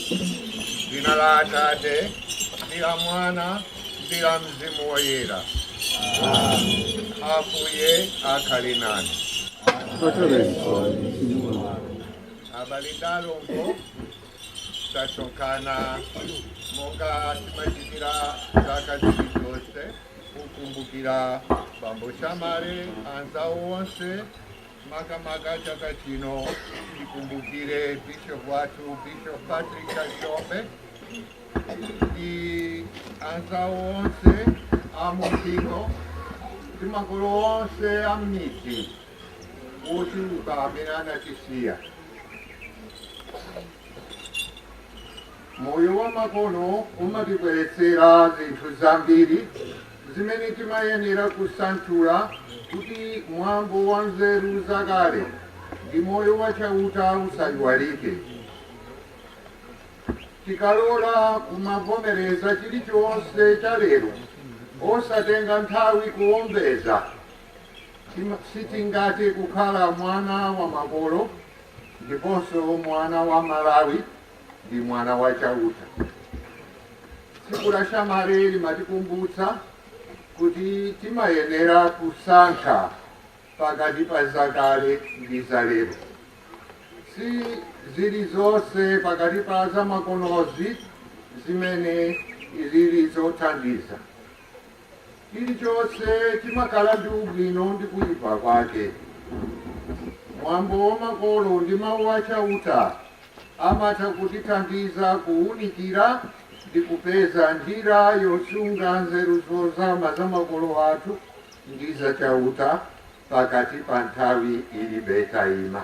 Dzina la Atate ndi la Mwana ndi la Mzimu Woyera. Ambuye akhale nanu. Abale ndi alongo tasonkhana monga timachitira zaka zilizonse kukumbukira bambo Chamare anzawo onse Makamaka chaka chino tikumbukire Bishop wathu Bishop Patrick Kalilombe ndi anzawo onse a mumpingo ndi makolo onse a m'midzi ochuluka amene anatisiya. Moyo wamakono umatibweretsera zinthu zambiri zimene timayenera kusanthula kuti mwambo wa nzeru zakale ndi moyo wa Chauta usaiwalike. Tikalola kumavomereza chilichonse cha lero osatenga nthawi kuwombeza, tima- sitingathe kukhala mwana wa makolo ndiponso mwana wa Malawi. ndi mwana wa Chauta. Tsiku la Chamare limatikumbutsa kuti timayenera kusankha pakati pa zakale ndi zalero. Si zilizonse pakati pa zamakonozi zimene zili zothandiza. Chilichonse chimakhala ndi ubwino ndi kuipa kwake. Mwambo wa makolo ndi Mau a Chauta amatha kutithandiza kuunikira ndi kupeza njira yosunga nzeru zozama za makolo athu ndi za Chauta pakati pa nthawi ilibe taima.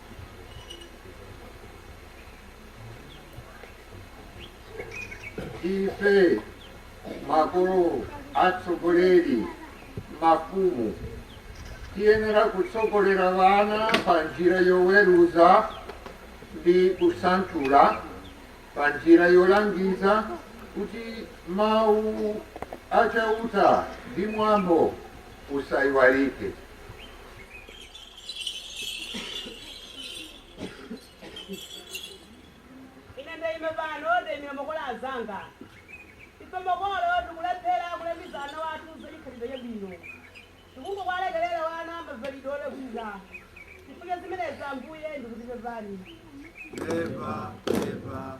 ife makolo atsogoleri mafumu tiyenera kutsogolera wana pa njira yoweruza ndi kusanthula pa njira yolangiza kuti mawu achauta ndi mwambo usayiwalike ine ndaima pano ndaimira makolo azanga ife makolo tikulephera kulangiza ana wathu za chikhalidwe chabwino tikungowalekerera wana mavalidwe olakwika chifukwa cha zimenezi ambuye ndikuti pepani Eva, Eva,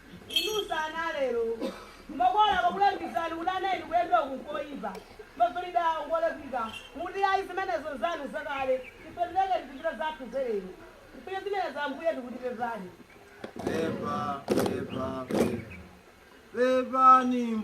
Inunso ana a lero, makolo akakulangizani kuti, Ana inu, kuyenda uku n'koipa, mavalidwe awa n'ngolakwika, mukuti, Ayi, zimenezo n'zanu zakale, ife tilekeni tizichita zathu zalero. Chifukwa cha zimenezi Ambuye tikuti pepani. Pepa, pepa, pepa. Pepani.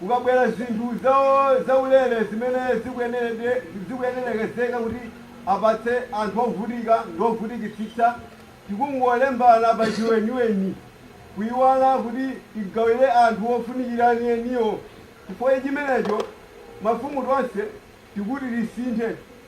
Kukabwera zinthu zaulere zimene zikuyenerekezeka kuti apatse anthu ovutika ndi ovutikitsitsa, tikungolembana pachiweniweni kuiwala kuti tigawire anthu ofunikira anieniwo. Chifukwa cha chimenecho, mafumu tonse tikuti tisinthe.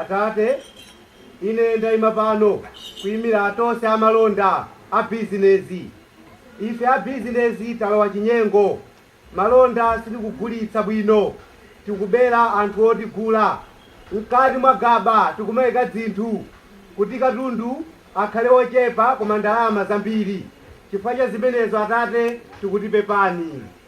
Atate, ine ndaima pano kuimira atonse amalonda, a bizinezi. Ife a bizinezi talowa chinyengo. Malonda sitikugulitsa bwino. Tikubera anthu otigula. Mkati mwa gaba tikumaika dzinthu kuti katundu akhale ochepa koma ndalama zambiri. Chifukwa cha zimenezo, Atate, tikuti pepani.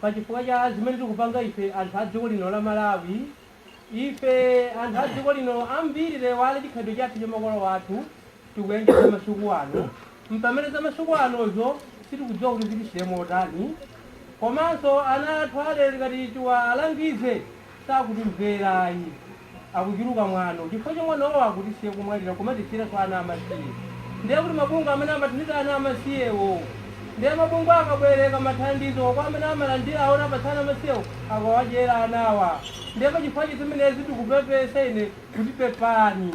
pa chifukwa cha zimene tikupanga ife anthu a dziko lino la malawi ife anthu a dziko lino ambiri taiwala chikhalidwe chathu cha makolo athu tikuyendera masiku ano pamene za masiku anozo sitikudziwa kuti zitithera motani komanso ana athu alero ngati tiwalangize sakutimvera ayi akuchuluka mwano chifukwa cha mwanowo akutisiya kumwalira kumatisiyiranso ana amasiye ndiye kuti mabungwe amene amathandiza ana amasiyewo ndiye mabungwe akabwereka mathandizo kwa amene amalandirawo osawapatsa ana amasiyewo akuwadyera anawa ndiye pachifukwa cha zimenezi tikupepesa ine kuti pepani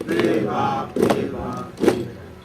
Pepa, pepa, pepa.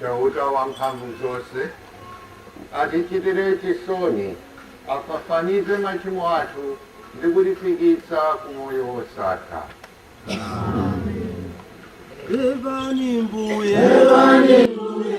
Chauta Wamphamvuzonse atichitire chisoni, afafanize machimo athu ndi kutifikitsa ku moyo wosatha. Imvani Mbuye, imvani Mbuye.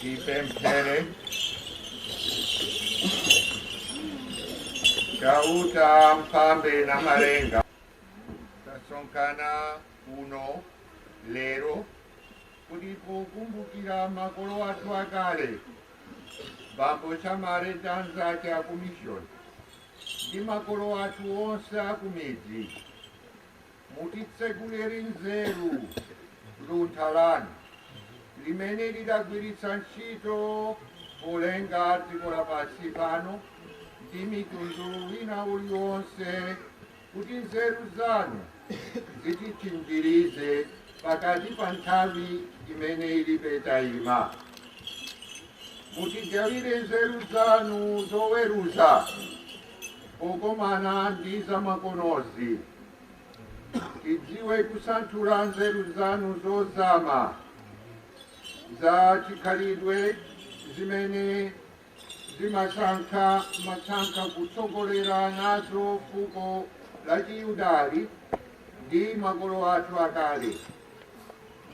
tipemphere chauta mphambe namalenga tasonkhana kuno lero kuti pokumbukira makolo athu akale bambo chamare ndi anzake akumishoni ndi makolo athu onse akumidzi Mutitseguleri nzeru luntha lanu limene mudagwiritsa ntchito polenga dziko lapansi pano ndi mtundu wina uliwonse kuti nzeru zanu zititchinjirize pakati pa nthawi imene ilibe taima mutigawire nzeru zanu zoweruza Pokomana ndi zamakonozi, tidziwe kusanthula nzeru zanu zozama za chikhalidwe zimene munasankha munasankha kutsogolera nazo fuko la Chiyuda ndi makolo athu akale.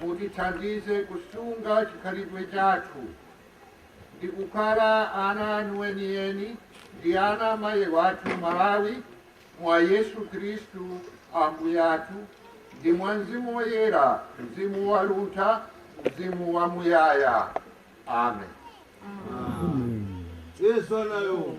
Mutithandize kusunga chikhalidwe chathu. ndi kukhala ana anu enieni ndi ana a mayi wathu Malawi mwa Yesu Khristu Ambuye athu ndi mwa Mzimu Woyera, Mzimu wa luntha, Mzimu wa muyaya. Amen. Yesu anayo.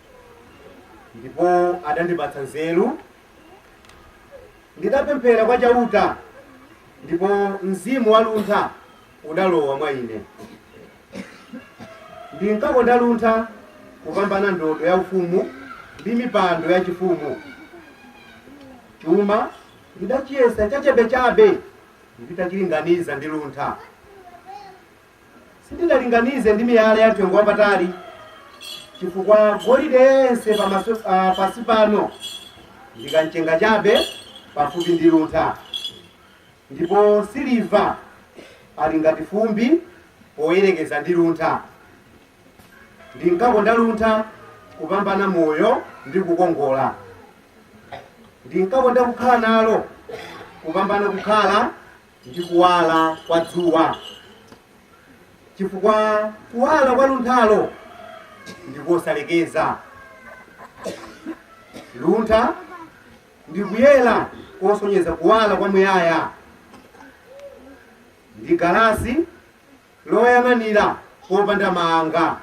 ndipo adandipatsa nzeru ndidapemphera kwa chauta ndipo mzimu wa luntha udalowa mwa ine ndinkakonda luntha kupambana ndodo ya ufumu ndi mipando ya chifumu chuma ndidachiyesa chachabechabe nditachilinganiza ndi luntha Sindidalinganize ndi miyala ya mtengo wapatali, chifukwa golide yense pamaso ah, pansi pano ndi kamchenga chabe pafupi ndi luntha, ndipo siliva ali ngati fumbi poyerekeza ndi luntha. Ndinkakonda luntha kupambana moyo ndi kukongola, ndinkakonda kukhala nalo kupambana kukhala ndi kuwala kwa dzuwa, chifukwa kuwala kwa lunthalo ndi kosalekeza. Luntha ndi kuyera kosonyeza kuwala kwa muyaya, ndi galasi loyang'anira popanda maanga,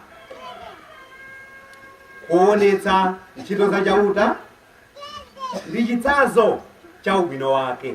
koonetsa ntchito za Chauta ndi chitsanzo cha ubwino wake.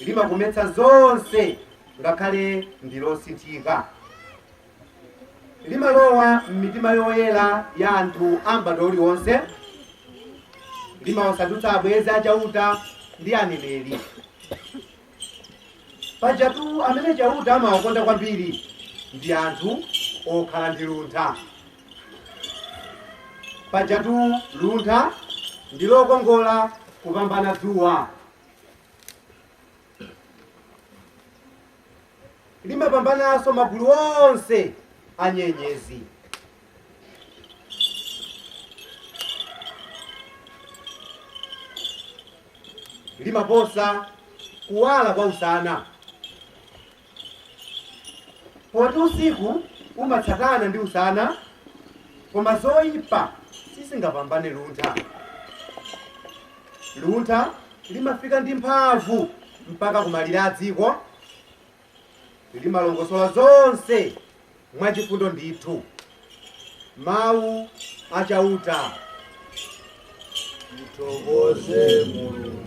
limakometsa zonse ngakhale ndi losasinthika limalowa m'mitima yoyera ya anthu a m'badwo uliwonse limawasandutsa abwenzi a chauta ndi aneneri pajatu amene chauta amawakonda kwambiri ndi anthu okhala ndi luntha Pajatu luntha ndi lokongola kupambana dzuwa. Limapambananso magulu onse a nyenyezi. Limaposa kuwala kwa usana. poti usiku umatsatana ndi usana koma zoyipa sizingapambane luntha luntha limafika ndi mphamvu mpaka kumalire a dziko limalongosola zonse mwachifundo ndithu mawu a Chauta. Mthokoze Mulungu.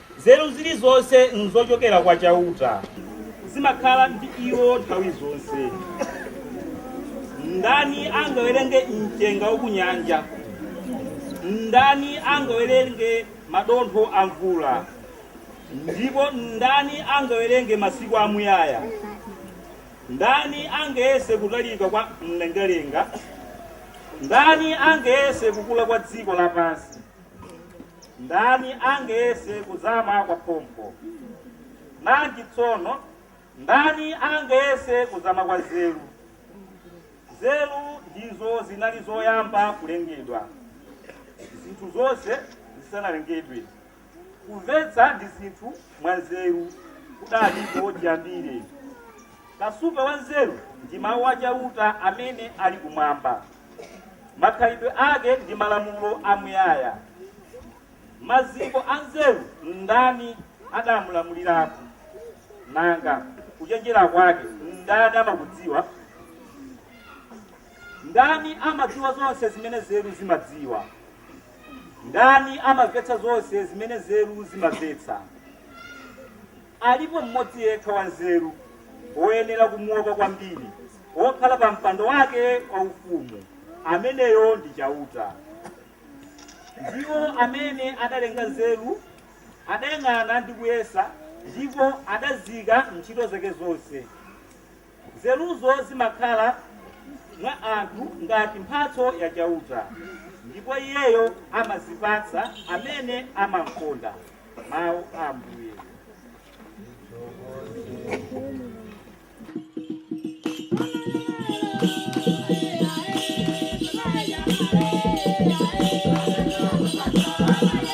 Nzeru zilizonse nzochokera kwa Chauta, zimakhala ndi Iwo nthawi zonse. Ndani angawerenge mchenga wa kunyanja? Ndani angawerenge madontho a mvula? Ndipo ndani angawerenge masiku amuyaya? Ndani angayese kutalika kwa mlengalenga? Ndani angayese kukula kwa dziko lapansi? Ndani angayese kuzama kwa phompho? Nanji tsono, ndani angayese kuzama kwa nzeru? Nzeru ndizo zinali zoyamba kulengedwa, zinthu zonse zisanalengedwe. Kumvetsa ndi zinthu mwa nzeru kudaliko chiyambire. Kasupe wa nzeru ndi mawu a Chauta amene ali kumwamba. Makhalidwe ake ndi malamulo amuyaya. Maziko a nzeru ndani adamulamulirapo? Nanga kuchenjera kwake ndani amakudziwa? Ndani amadziwa zonse zimene nzeru zimadziwa? Ndani amamvetsa zonse zimene nzeru zimamvetsa? Alipo mmodzi yekha wanzeru, woyenera kumuopa kwambiri, wokhala pa mpando wake waufumu, ameneyo ndi Chauta. Ndiwo amene adalenga nzeru, adayang'ana ndi kuyesa, ndipo adaziika m'ntchito zake zonse. Nzeruzo zimakhala mwa anthu ngati mphatso ya Chauta, ndipo Iyeyo amazipatsa amene amamkonda. Mau a Ambuye.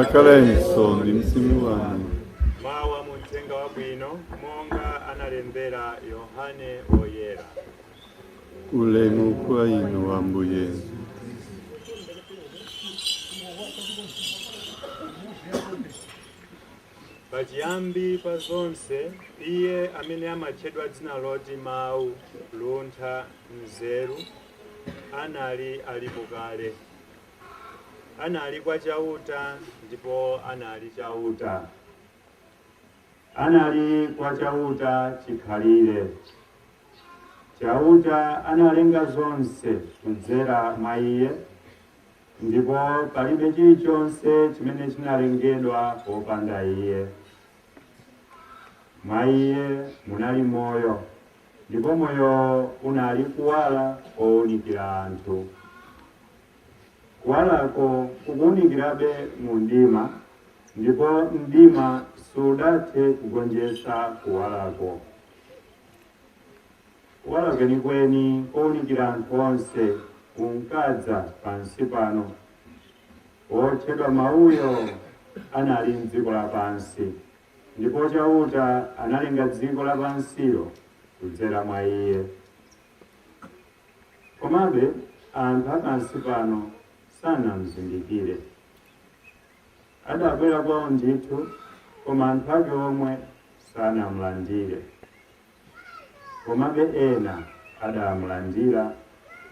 akhalenso ndi mzimu wanu mawu a mu mthenga wabwino monga analembera yohane woyera ulemu kwa inu ambuye pachiyambi pa zonse iye amene amatchedwa dzina loti mawu luntha nzeru anali alipo kale anali kwa Chauta ndipo anali Chauta. Anali kwa Chauta chikhalire. Chauta analenga zonse kudzera mwa iye, ndipo palibe chilichonse chimene chinalengedwa popanda iye. Mwa iye munali moyo, ndipo moyo unali kuwala kounikira anthu. Kuwalako kukuunikirabe mu mdima, ndipo mdima sudathe kugonjetsa kuwalako. Kuwala kwenikweni kounikira anthu onse kunkadza pansi pano. Wotchedwa Mawuyo anali m'dziko lapansi, ndipo Chauta analenga dziko lapansilo kudzera mwa Iye. Komabe, anthu a pansi pano sanamzindikire. Adabwera kwao ndithu, koma anthu ake omwe sanamlandire. Komabe ena adamlandira,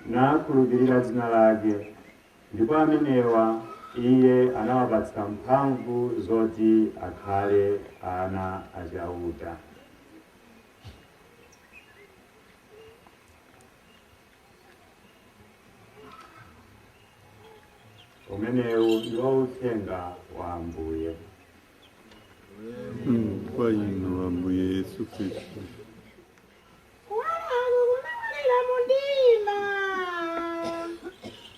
nakhulupirira dzina lake, ndipo amenewa Iye anawapatsa mphamvu zoti akhale ana a Chauta. umenewu ndiwo uthenga wa ambuye kwa inu ambuye yesu kristu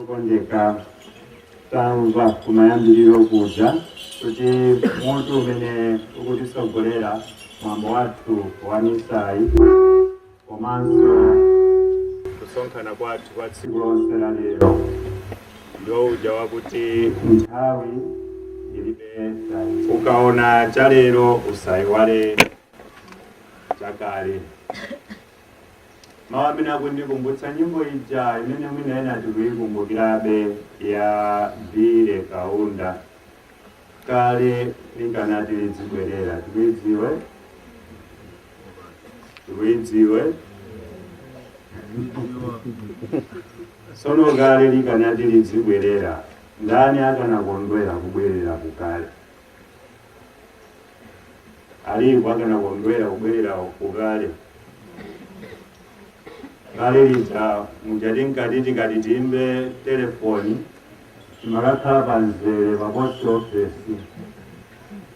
okondeka tamva kumayambiriro kuja kuti mutu umene ukutisogolera mwambo wathu wa misayi komanso kusonkhana kwathu kwa tsiku lonse la lero ndiwo uja wakuti nthawi ilibe tayi ukaona cha lero usayiwale cha kale Mawu amene akundikumbutsa nyimbo ija imene mwina ena tikuikumbukirabe ya Billy Kaunda, kale likanati lidzibwerera, tikuidziwe tikuidziwe tsono kale likanati lidzibwerera, ndani akanakondwera kubwerera kukale? alipo akanakondwera kubwerera kukale kale lija muja tinkati tikati tiimbe telefoni timakakhala pa mzere pa post office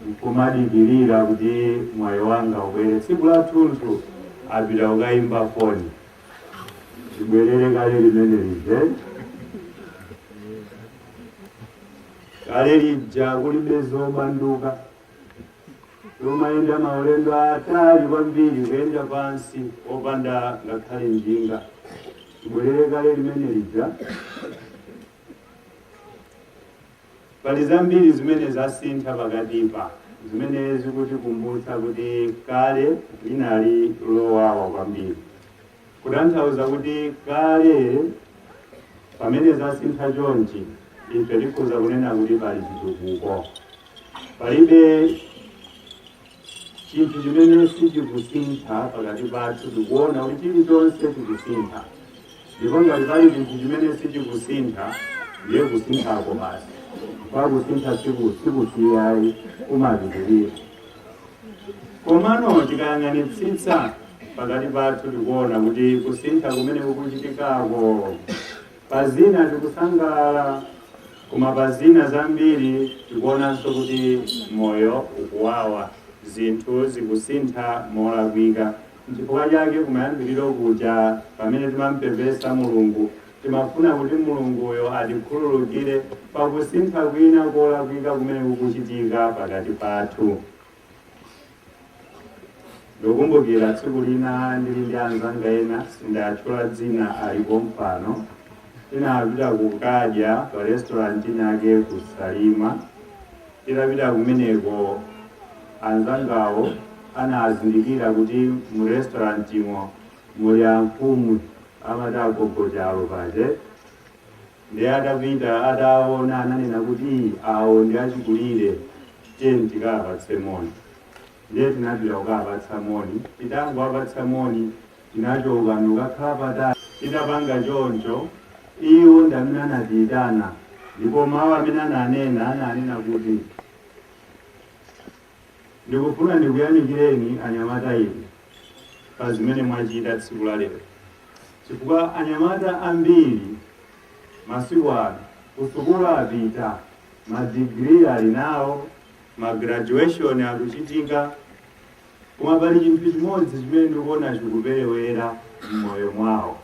nkumadikirira kuti mwayi wanga ubwere tsiku lathunthu tapita kukayimba foni tibwerere kale limene lije kale lija kulibe zobanduka tumayenda maulendo atali kwambiri kuyenda pansi opanda ngakhale njinga tibwerere kale limene lija pali zambiri zimene zasintha pakatipa zimene zikutikumbutsa kuti kale linali lowawa kwambiri Kutanthauza kuti kale pamene zasintha chonchi, ife tikhoza kunena kuti pali chitukuko. Palibe chinthu chimene sichikusintha pakati pathu, tikuona kuti chilichonse chikusintha, ndipo ngati pali chinthu chimene sichikusintha ndiye kusinthako basi, kusintha sikusiyayi kumapitirira. komano tikayang'anitsitsa pakati pathu tikuona kuti kusintha kumene kukuchitikako pa zina tikusangalala koma pa zina zambiri tikuonanso kuti moyo ukuwawa zinthu zikusintha molakwika nchifukwa chake kumayambiriro kuja pamene timampepesa mulungu Timafuna kuti Mulunguyo atikhululukire pa kusintha kwina kolakwika kumene kukuchitika pakati pathu. Ndikukumbukira tsiku lina ndili ndi anzanga ena, sindiwatchula dzina, ali pompano. Tinapita kukadya pa restaurant inayake ku Salima. Titapita kumeneko, anzangawo anazindikira kuti mu restaurantimo muli amfumu amati agogo chalo paja eti ndiye atapita ataona ananena kuti awo ndi achikulire tiyeni tikawapatse moni ndiye tinapita kukawapatsa moni titangowapatsa moni tinachoka ndikukakhala patali titapanga choncho iwo ndi amene anatiyitana ndipo mawu amene ananena ananena kuti Ndikufuna ndikuyamikireni anyamata inu pa zimene mwachita tsiku la lero chifukwa anyamata ambiri masiku ano kusukulu apita, ma degree ali nawo, ma graduation akuchitika, koma pali chinthu chimodzi chimene ndikuona chikuperewera m'moyo mwawo.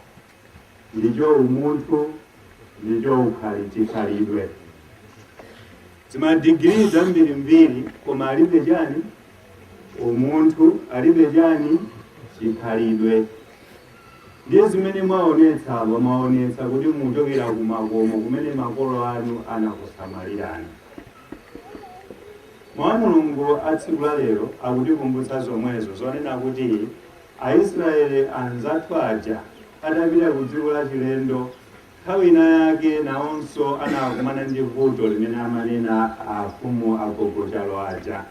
ndicho umunthu, ndicho ukhali chikhalidwe. Zimadigiri zambirimbiri koma alibe chani umunthu, alibe chani chikhalidwe. Ndiye zimene mwaonetsa apa, mwaonetsa kuti mukuchokera ku makomo kumene makolo anu anakusamalirani. Mawu a Mulungu a tsiku la lero akutikumbutsa zomwezo zonena kuti Aisraele anzathu aja atapita ku dziko lachilendo, nthawi inayake nawonso anakumana ndi vuto limene amanena afumu a Gogo Chalo aja,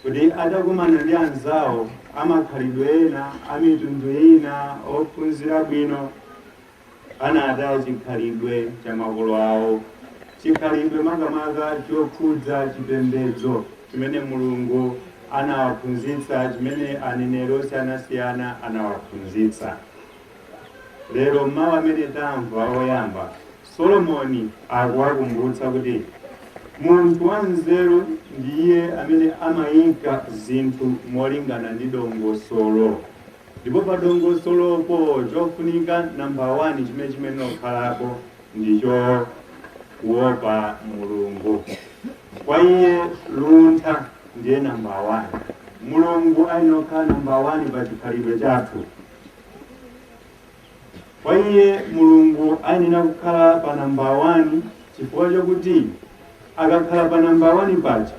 kuti atakumana ndi anzao amakhalidwe ena, amitundu ina, ophunzira bwino. anataya chikhalidwe cha makolo awo, chikhalidwe makamaka chokhudza chipembedzo chimene Mulungu anawaphunzitsa, chimene aneneri osiyanasiyana anawaphunzitsa. Lero mawu amene tamva oyamba, Solomoni akuwakumbutsa kuti munthu wanzeru ndiye amene amayika zinthu molingana ndi dongosolo Ndipo pa dongosolopo, chofunika namba wani chimene chiyenera kukhalapo ndicho kuopa Mulungu. Kwa iye luntha ndiye namba wani. Mulungu ayenera kukhala namba wani pa chikhalidwe chathu. Kwa iye Mulungu ayenera kukhala pa namba 1 chifukwa chakuti akakhala pa namba 1 paja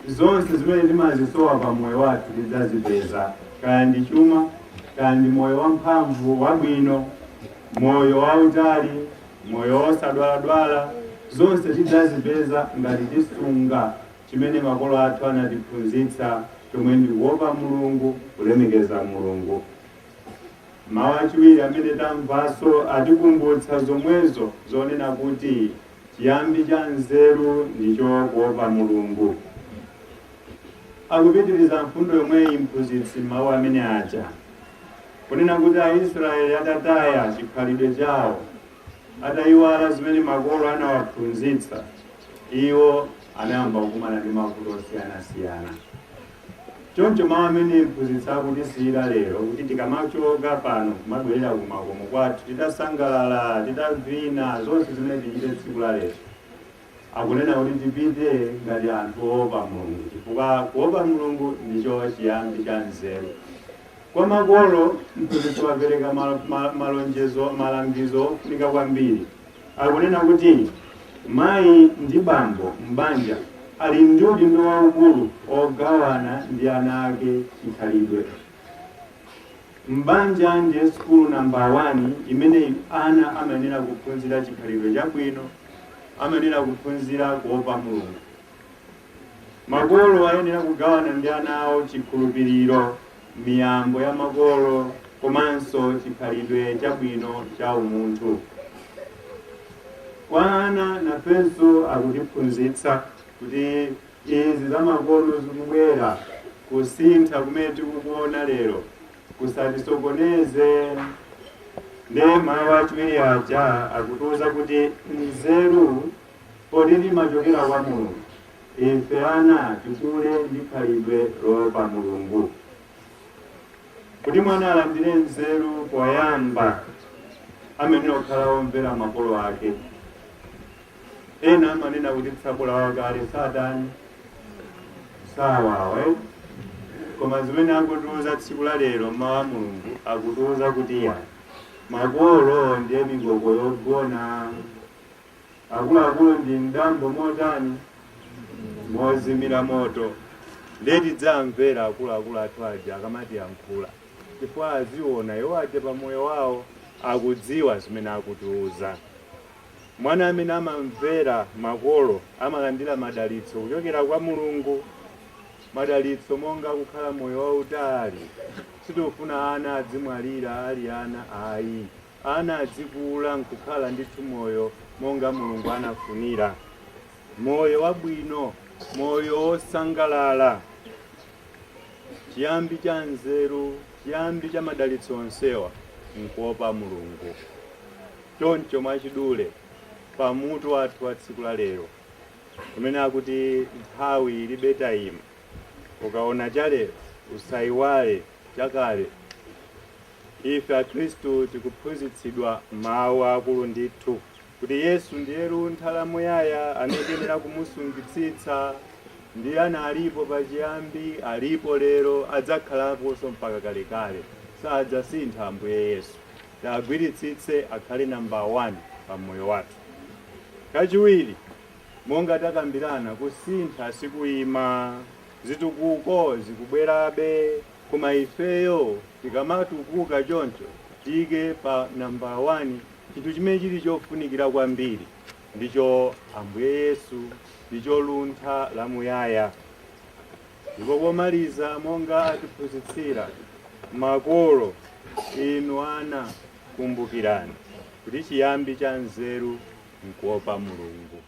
zonse zimene timazisowa pa moyo wathu tidzazipeza, kaya ndi chuma, kaya ndi moyo wamphamvu wabwino, moyo wautali, moyo wosadwaladwala, zonse tidzazipeza ngati tisunga chimene makolo athu anatiphunzitsa chomwe ndi kuopa Mulungu, kulemekeza Mulungu. Mawu achiwiri amene tamvanso atikumbutsa zomwezo zonena kuti chiyambi cha nzeru ndicho kuopa Mulungu. Akupitiriza mfundo yomweyi mphunzitsi m'mawu amene aja kunena kuti Aisraeli atataya chikhalidwe chawo atayiwala zimene makolo anawaphunzitsa iwo anayamba kukumana ndi mavuto osiyanasiyana. Choncho mawu amene mphunzitsi akutisiyira lero kuti tikamachoka pano kumabwerera kumakomo kwathu titasangalala, titavina, zonse zimene tichite tsiku la lero, akunena kuti tipite ngati anthu oopa Mulungu, chifukwa kuopa Mulungu ndicho chiyambi cha nzeru. Kwa makolo, mphunzitsi wapereka malo- ma- malonjezo, malangizo ofunika kwambiri. Akunena kuti mayi ndi bambo m'banja ali ndi udindo waukulu ogawana ndi ana ake chikhalidwe m'banja ndi sukulu namba 1 imene ana amayenera kuphunzira chikhalidwe chabwino, amayenera kuphunzira kuopa Mulungu. Makolo ayenera kugawana ndi ana awo chikhulupiriro, miyambo ya makolo komanso chikhalidwe chabwino cha umunthu. Kwa ana nafenso akutiphunzitsa kuti izi zamakono zikubwera kusintha kumene tikukuona lero kusatisokoneze ndiye mawu achiwiri aja akutiuza kuti nzeru Poti imachokera kwa Mulungu? Ife ana tikule ndi khalidwe loopa Mulungu. Kuti mwana alandire nzeru, poyamba amayenera kukhala womvera makolo ake. Ena amanena kuti tsabola wakale satani sawawa eh? koma zimene akutiuza tsiku la lero mawu a mulungu akutiuza kuti mawu a makolo ndiye mikoko yogona Akuluakulu ndi mdambo motani? Mozimira moto. Ndiye tidziwamvera akuluakulu athu aja akamatiyankhula, chifukwa aziona iwo aja pa moyo wawo akudziwa zimene akutiuza. Mwana amene amamvera makolo amalandira madalitso kuchokera kwa Mulungu, madalitso monga kukhala moyo wautali. Sitikufuna ana adzimwalira ali ana ayi. ana adzikula n'kukhala ndithu moyo monga Mulungu anafunira, moyo wabwino, moyo wosangalala, chiyambi cha nzeru, chiyambi cha madalitso onsewa n'kuopa Mulungu. Choncho mwachidule pa mutu wathu wa tsiku la lero umene akuti nthawi ilibe taima, ukaona chalero usaiwale chakale. Ife Akristu tikuphunzitsidwa mawu aakulu ndithu kuti Yesu ndiye luntha la muyaya amene tiyenera kumusungitsitsa ndiye analipo pachiyambi, alipo lero, adzakhalaponso mpaka kalekale. Sadzasintha Ambuye Yesu. Tiwagwiritsitse akhale namba 1 pa moyo wathu. Kachiwiri, monga takambirana, kusintha sikuima. Zitukuko zikubwerabe. Koma ifeyo tikamatukuka choncho, tiike pa nambala wani chinthu chimene chili chofunikira kwambiri, ndicho Ambuye Yesu, ndicho luntha lamuyaya. Ndipo pomaliza, monga atiphunzitsira makolo, Inu ana, kumbukirani kuti chiyambi cha nzeru n'kuopa Mulungu.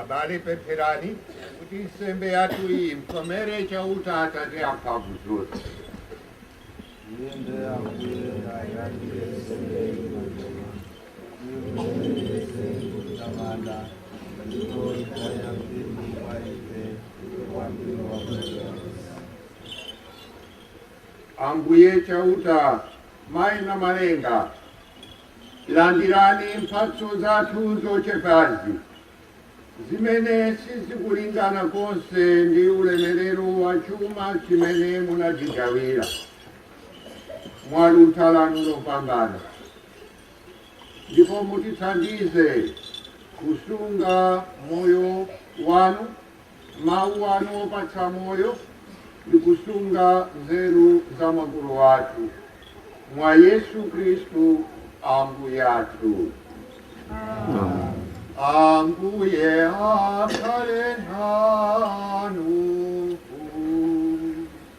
abale pempherani kuti nsembe yathu iyi imkomere chauta atate amphamvu zonse ambuye chauta mayi Namalenga landirani mphatso zathu zochepazi zimene sizikulingana konse ndi ulemerero wa chuma chimene munatigawira mwa luntha lanu lopambana, ndipo mutithandize kusunga moyo wanu Mawu anu opatsa moyo ndi kusunga nzeru za makolo athu, mwa Yesu Khristu Ambuye athu. Ambuye akhale nanu.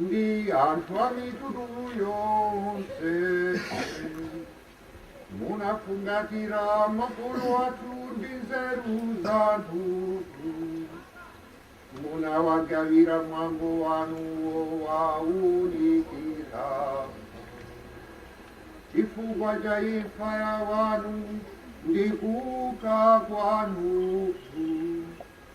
ndi anthu a mitundu yonse munafungatira makolo athu ndi nzeru zanu munawagawira mwambo wanu wowaunikira chifukwa cha imfa ya wanu ndi kuuka kwanu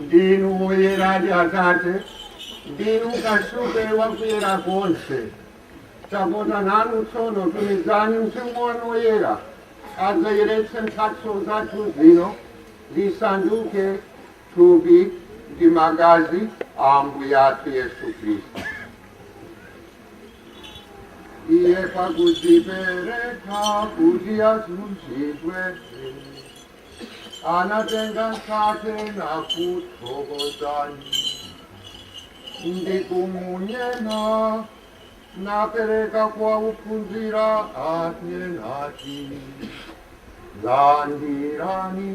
ndinu woyeradi atate ndinu kasupe wakuyera konse tapota nanu tsono tumizani mzimu wanu woyera adzayeretse mphatso zathu zino zisanduke thupi ndi magazi a Ambuye athu Yesu Khristu. Iye pakudzipereka kuti azunzidwe, anatenga mkate nakuthokozani ndi kumunyema napereka kwa ophunzira ake nati, Landirani.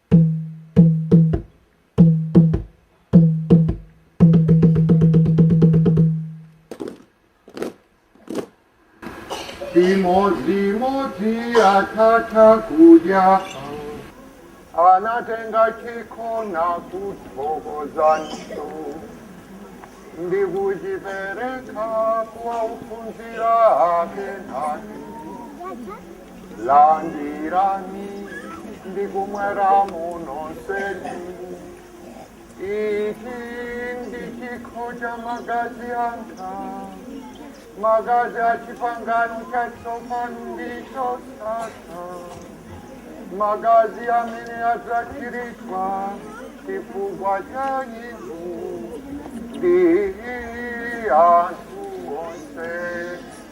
Chimodzimodzi, atatha kudya anatenga chikho na kuthokozanso ndikuchipereka kwa ophunzira ake nati landirani ndikumweramu nonsenu ichi ndi chikho cha magazi anga magazi a chipangano chatsopano ndi chosatha magazi amene adzatsiridwa chifukwa cha inu ndi anthu onse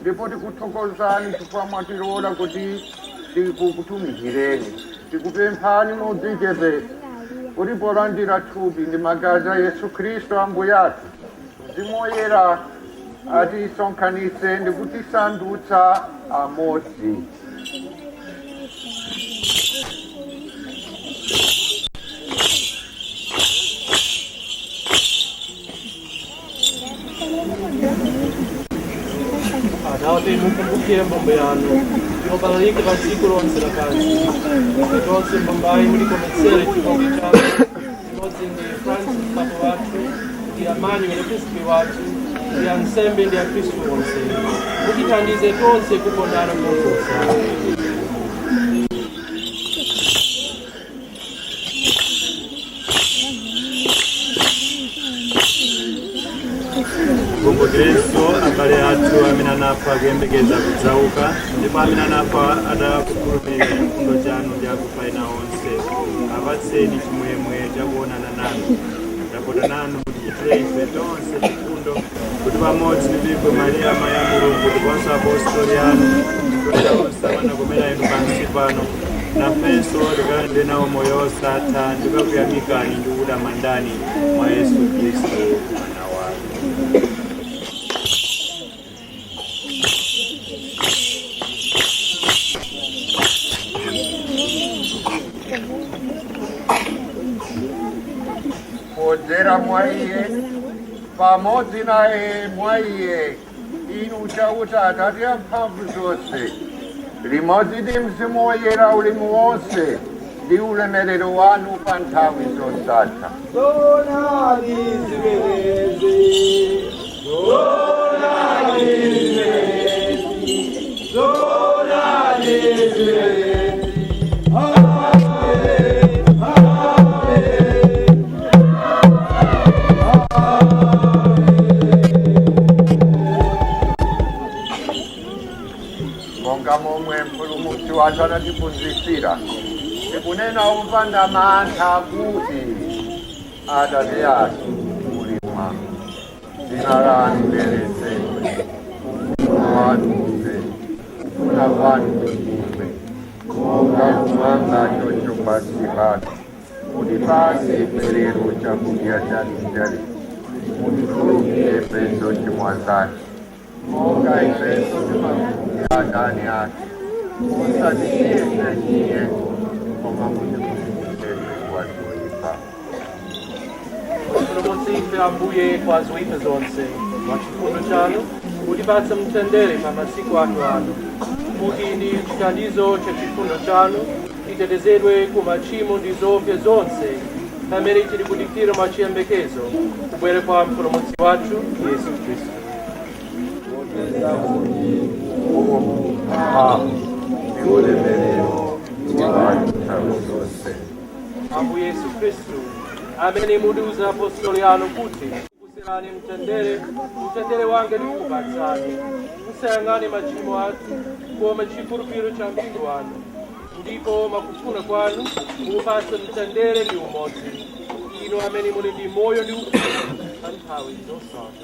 ndipo tikuthokozani chifukwa mwatilola kuti tikutumikireni tikupemphani modzichepetsa kuti polandira thupi ndi magazi a yesu khristu ambuye athu mzimu woyera atisonkhanitse ndi kutisandutsa amodzi Atate, mukumbukire mbumba yanu yobalalika pa dziko lonse lapansi kuti tonse mbumbayi mulikometsere chikondi chanu chimodzi ndi francis papa wathu ndi emmanuel episkopi wathu ndi ansembe ndi akristu onse mutithandize tonse kukondana koposa mukumbukirenso abale athu amene anafa akuyembekeza kudzauka ndipo amene anafa atakukhulupirira chifundo chanu ndi akufa ena onse apatseni chimwemwe chakuonana nanu tapota nanu muchitire ife tonse chifundo kuti pamodzi ndi Virgo Maria amayi a Mulungu ndiponso apostoli anu ndi onse amene anakomera inu pansi pano nafenso tikalandire nawo moyo osatha ndikakuyamikani ndi kutamandani mwa Yesu Khristu mwana wanu podzera mwa iye pamodzi naye mwa iye inu chauta atate a mphamvu zonse limodzi ndi mzimu woyera ulemu wonse ndi ulemerero wanu pa nthawi zosatha Zoonadi zimenezi monga momwe mpulumutsi wathu anatiphunzitsira tikunena opanda mantha kuti Atate athu muli mmwamba dzina lanu liyeretsedwe, ufumu wanu udze, kufuna kwanu kuchitidwe monga kumwamba choncho pansi pano. Mutipatse ife lero chakudya chathu cha lero, mutikhululukire ifenso zochimwa zathu monga ifenso timakhululukira adani athu musatisiye ife m'chinyengo koma mutipulumutse ife kwa zoyipa Mutipulumutse ife ambuye kwa zoyipa zonse mwa chifundo chanu mutipatse mtendere pa masiku athu ano kuti ndi chithandizo cha chifundo chanu titetezedwe ku machimo ndi zoopsa zonse pamene tili kudikira mwachiyembekezo kubwera kwa mpulumutsi wathu yesu khristu Ambuye Yesu Kristu amene mudauza apostoli anu kuti ndikusiyirani mtendere mtendere wanga ndikupatsani musayang'ane machimo athu koma chikhulupiriro cha mpingo wanu ndipo mwakufuna kwanu muupatse mtendere ndi umodzi inu amene muli ndi moyo ndi ufumu pa nthawi zosatha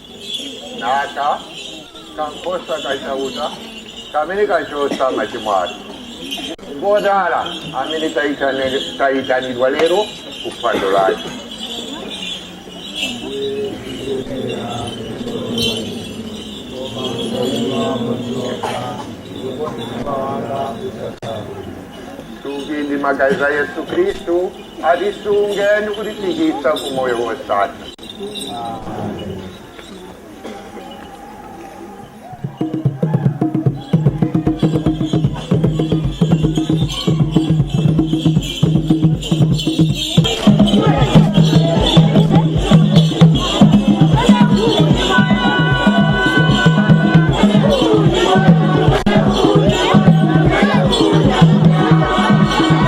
nako kankhosa ka chauta kamene kachotsa machimo athu ngodala amene taitane- taitanidwa lero ku phwando lake thupi ndi magazi a yesu khristu atisunge ndi kutifikitsa ku moyo wosatha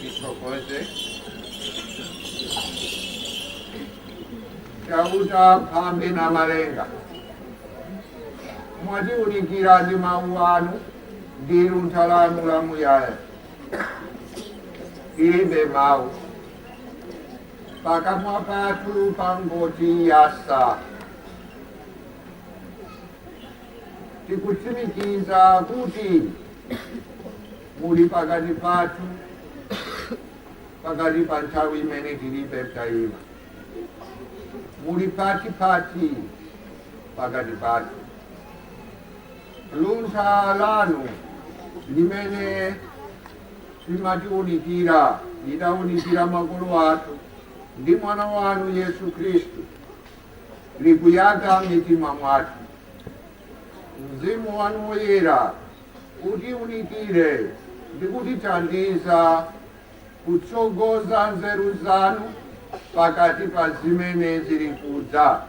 tithokoze chauta phambi na malenga mwatiunikira ndi mawu anu ndi luntha lanu lamuyaya inde mawu pakamwa pathu pangoti yasa tikutsimikiza kuti Muli pakati pathu, pakati pa nthawi imene tilibe mtayima. Muli pati pati, pakati pathu. Luntha lanu limene limatiunikira, lidaunikira makolo athu ndi mwana wanu Yesu Khristu, likuyaka mitima mwathu. Mzimu wanu Woyera utiunikire ndi kutithandiza kutsogoza nzeru zanu pakati pa zimene zili kudza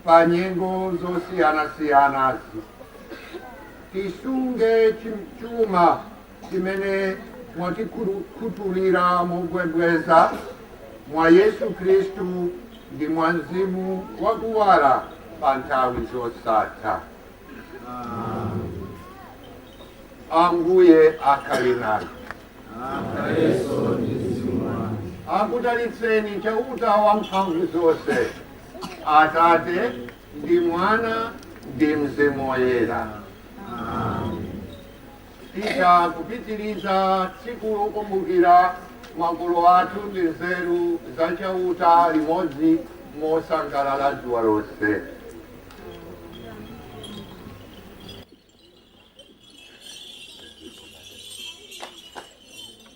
pa nyengo zosiyanasiyanazi. Tisunge chuma chimene mwatikhutulira mobwebweza mwa Yesu Kristu ndi mwa mzimu wakuwala pa nthawi zosatha. Ambuye akhale nanu. akudalitseni chauta wa mphamvu zonse atate ndi mwana ndi mzimu woyera Titha kupitiriza tsiku lokumbukira makolo athu ndi nzeru za Chauta limodzi mosangalala dzuwa lonse.